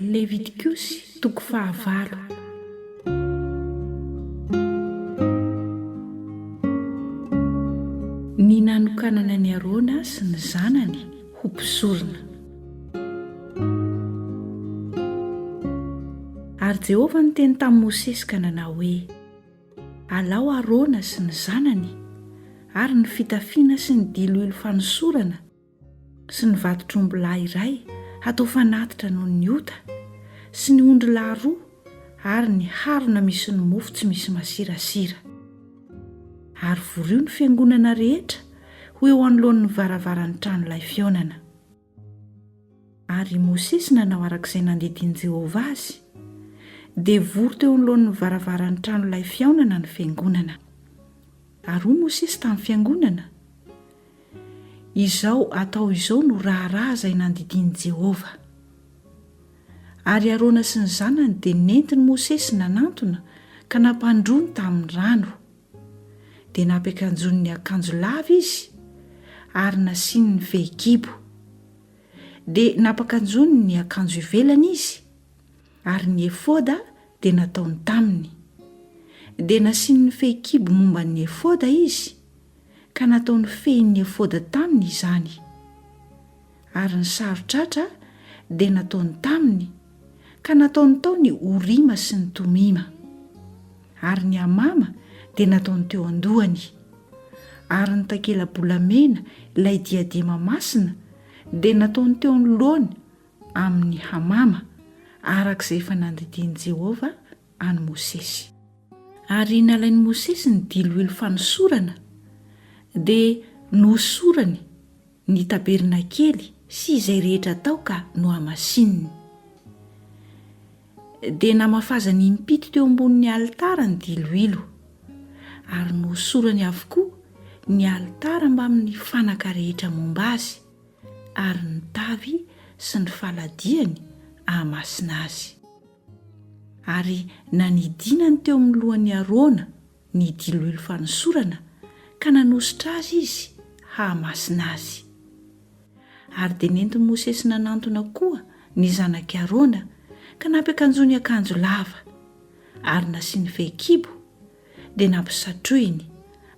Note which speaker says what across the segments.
Speaker 1: Levitikosy toko fahavalo. Ny nanokanana an'i Arona sy ny zanany ho mpizorona. Ary Jehovah niteny tamin'i Mosesy ka nanao hoe, Alao Arona sy ny zanany, ary ny fitafiana sy ny diloilo fanosorana, sy ny vatotr'ombilahy iray hatao fanatitra noho ny ota, sy ny ondrilahy roa, ary ny harona misy ny mofo tsy misy masirasira. Ary vorio ny fiangonana rehetra ho eo anoloan'ny varavaran'ny tranolay fihaonana. Ary i Mosesy nanao araka izay nandidian'i Jehovah azy, dia vory teo anoloan'ny varavaran'ny tranolay fihaonana ny fiangonana. Ary hoy Mosesy tamin'ny fiangonana, Izao atao izao no raharaha izay nandidian'i Jehovah. Ary Arona sy ny zanany dia nentin'i Mosesy nanantona ka nampandroany tamin'ny rano. Dia nampiakanjoany ny akanjo lava izy ary nasiany ny fehikibo. Dia nampakanjoany ny akanjo ivelany izy. Ary ny efoda dia nataony taminy. Dia nasiany ny fehikibo momba ny efoda izy, ka nataony fehin'ny efoda taminy izany. Ary ny saron-tratra dia nataony taminy, ka nataony tao ny Orima sy ny Tomima. Ary ny amama dia nataony teo an-dohany. Ary ny takela-bolamena, ilay diadema masina, dia nataony teo anoloany, amin'ny hamama, araka izay efa nandidian'i Jehovah an'i Mosesy. Ary nalain'i Mosesy ny diloilo fanosorana, dia nohosorany ny tabernakely sy izay rehetra tao ka nohamasininy. Dia namafazany impito teo ambonin'ny alitara ny diloilo, ary nohosorany avokoa ny alitara mbamin'ny fanaka rehetra momba azy. ary ny tavy sy ny faladiany hahamasina azy. Ary nanidinany teo amin'ny lohan'i Arona ny diloilo fanosorana ka nanositra azy izy hahamasina azy. Ary dia nentin'i Mosesy nanantona koa ny zanak'i Arona ka nampiakanjony akanjo lava, ary nasiany fehikibo, dia nampisatrohiny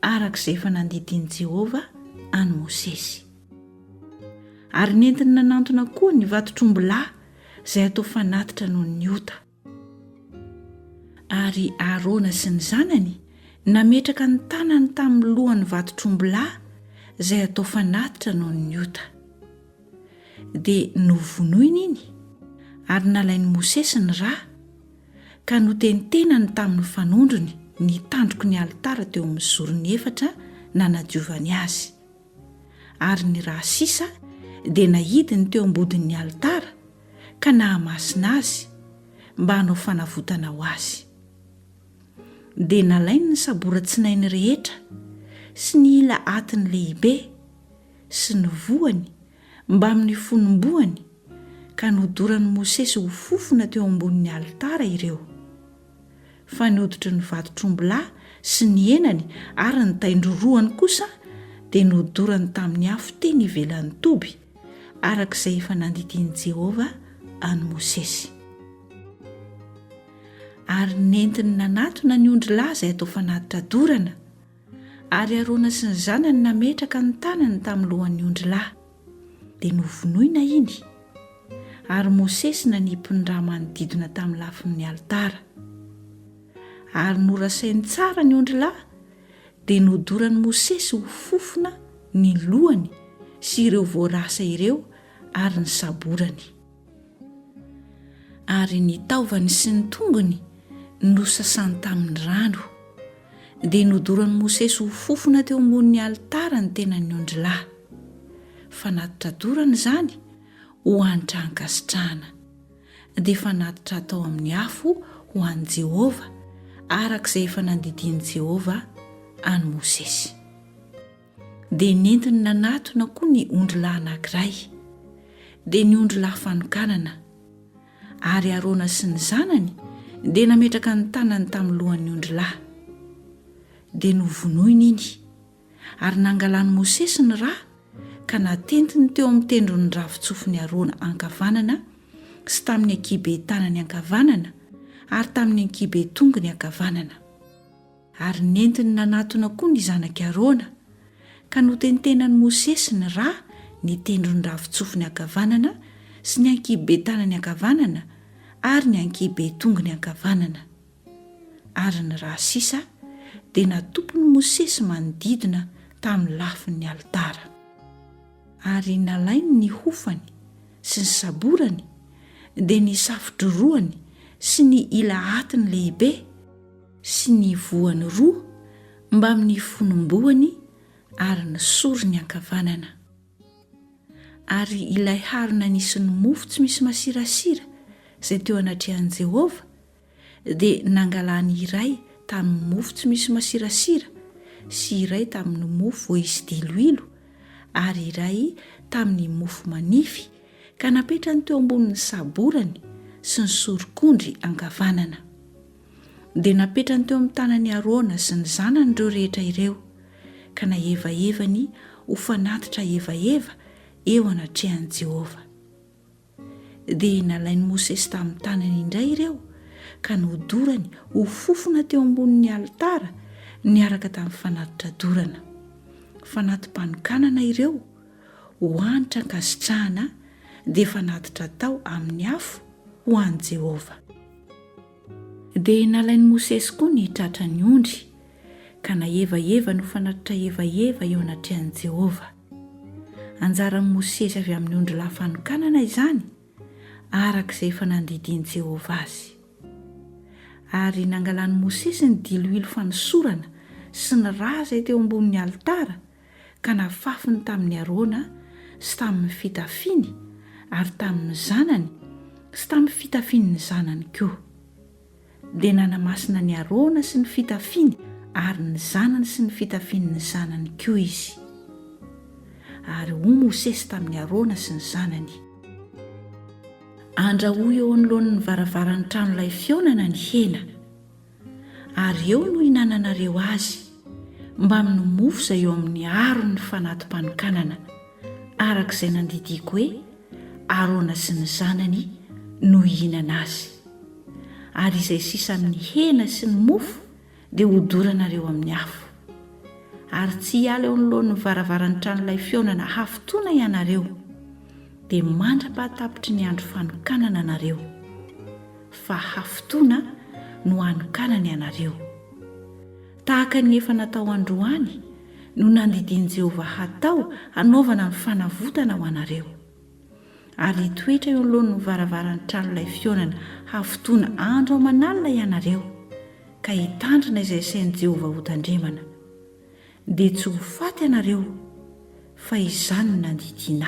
Speaker 1: araka izay efa nandidian'i Jehovah an'i Mosesy. Ary nentiny nanantona koa ny vatotr'ombilahy izay atao fanatitra noho ny ota. Ary Arona sy ny zanany nametraka ny tanany tamin'ny lohan'ny vatotr'ombilahy izay atao fanatitra noho ny ota. Dia novonoiny iny, ary nalain'i Mosesy ny ra, Ka notentenany tamin'ny fanondrony ny tandroky ny alitara teo amin'ny zorony efatra nanadiovany azy. Ary ny rà sisa dia nahidiny teo am-bodin'ny alitara ka nahamasina azy, mba hanao fanavotana ho azy. Dia nalainy ny saboran-tsinainy rehetra, sy ny ila atiny lehibe, sy ny voany mbamin'ny fonom-boany, ka nodoran'i Mosesy ho fofona teo ambonin'ny alitara ireo. Fa ny hoditry ny vatotr'ombilahy sy ny henany ary ny tain-drorohany kosa dia nodorany tamin'ny afo teny ivelan'ny toby, araka izay efa nandidian'i Jehovah an'i Mosesy. Ary nentiny nanatona ny ondrilahy izay atao fanatitra dorana. Ary Arona sy ny zanany nametraka ny tanany tamin'ny lohan'ny ondry lahy, dia novonoina iny, ary Mosesy nanipy ny rà manodidina tamin'ny lafin'ny alitara. Ary norasainy tsara ny ondry lahy, dia nodoran'i Mosesy ho fofona ny lohany sy ireo voarasa ireo ary ny saborany. Ary ny taovany sy ny tongony nosasany tamin'ny rano. Dia nodoran'i Mosesy ho fofona teo ambonin'ny alitara ny tenan'ny ondrilahy. Fanatitra dorana izany ho hanitra hankasitrahana. Dia fanatitra hatao amin'ny afo ho an'i Jehovah, araka izay efa nandidian'i Jehovah an'i Mosesy. Dia nentiny nanatona koa ny ondry lahy anankiray, dia ny ondry lahy fanokanana. Ary Arona sy ny zanany dia nametraka ny tanany tamin'ny lohan'ny ondry lahy. Dia novonoiny iny, ary nangalan'i Mosesy ny ra ka natentiny teo amin'ny tendron'ny ravin-tsofin'i Arona ankavanana sy tamin'ny ankihibe tanany ankavanana ary tamin'ny ankihibe tongony ankavanana. Ary nentiny nanatona koa ny zanak'i Arona, ka notentenan'i Mosesy ny ra, ny tendron'ny ravin-tsofiny ankavanana sy ny ankihiben-tanany ankavanana ary ny ankihiben-tongony ankavanana. Ary ny ra sisa dia natopin'i Mosesy manodidina tamin'ny lafin'ny alitara. Ary nalainy ny hofany sy ny saborany, dia ny safo-drorohany sy ny ila atiny lehibe, sy ny voany roa mbamin'ny fonom-boany ary ny sorony ankavanana. Ary ilay harona nisy ny mofo tsy misy masirasira izay teo anatrehan'i Jehovah, dia nangalany iray tamin'ny mofo tsy misy masirasira sy iray tamin'ny mofo voaisy diloilo ary iray tamin'ny mofo manify, ka napetrany teo ambonin'ny saborany sy ny sorok'ondry ankavanana. Dia napetrany teo amin'ny tanan' i Arona sy ny zanany ireo rehetra ireo, ka nahevahevany ho fanatitra hevaheva eo anatrehan'i Jehovah. Dia nalain'i Mosesy tamin'ny tanany indray ireo, ka nodorany ho fofona teo ambonin'ny alitara niaraka tamin'ny fanatitra dorana. Fanati-panokanana ireo ho hanitra ankasitrahana, dia fanatitra atao amin'ny afo ho an'i Jehovah. Dia nalain'i Mosesy koa ny tratran'ny ondry, ka nahevaheva no fanatitra hevaheva eo anatrehan'i Jehovah. Anjaran'i Mosesy avy amin'ny ondrilahy fanokanana izany, araka izay efa nandidian'i Jehovah azy. Ary nangalan'i Mosesy ny diloilo fanosorana sy ny rà izay teo ambonin'ny alitara, ka nafafiny tamin'i Arona sy tamin'ny fitafiany ary tamin'ny zanany sy tamin'ny fitafian'ny zanany koa. Dia nanamasina an'i Arona sy ny fitafiany ary ny zanany sy ny fitafian'ny zanany koa Izy. Ary hoy Mosesy tamin'i Arona sy ny zanany. Andrahoy eo anoloan'ny varavaran'ny tranolay fihaonana ny hena. ary eo no hinananareo azy, mbamin'ny mofo izay eo amin'ny aron'ny fanati-panokanana, araka izay nandidiako hoe, Arona sy ny zanany no hihinana azy. Ary izay sisa amin'ny hena sy ny mofo dia hodoranareo amin'ny afo. Ary tsy hiala eo anoloan'ny varavaran'ny tranolay fihaonana hafotoana ianareo, dia mandra-pahatapitry ny andro fanokanana nareo. fa hafotoana no hanokanany anareo. Tahaka ny efa natao androany no nandidian'i Jehovah hatao hanaovana ny fanavotana ho anareo. Ary hitoetra eo anoloan'ny varavaran'ny tranolay fihaonana hafotoana andro aman'alina ianareo, ka hitandrina izay asain'i Jehovah hotandremana. Dia tsy ho faty ianareo, fa izany no nandidianà.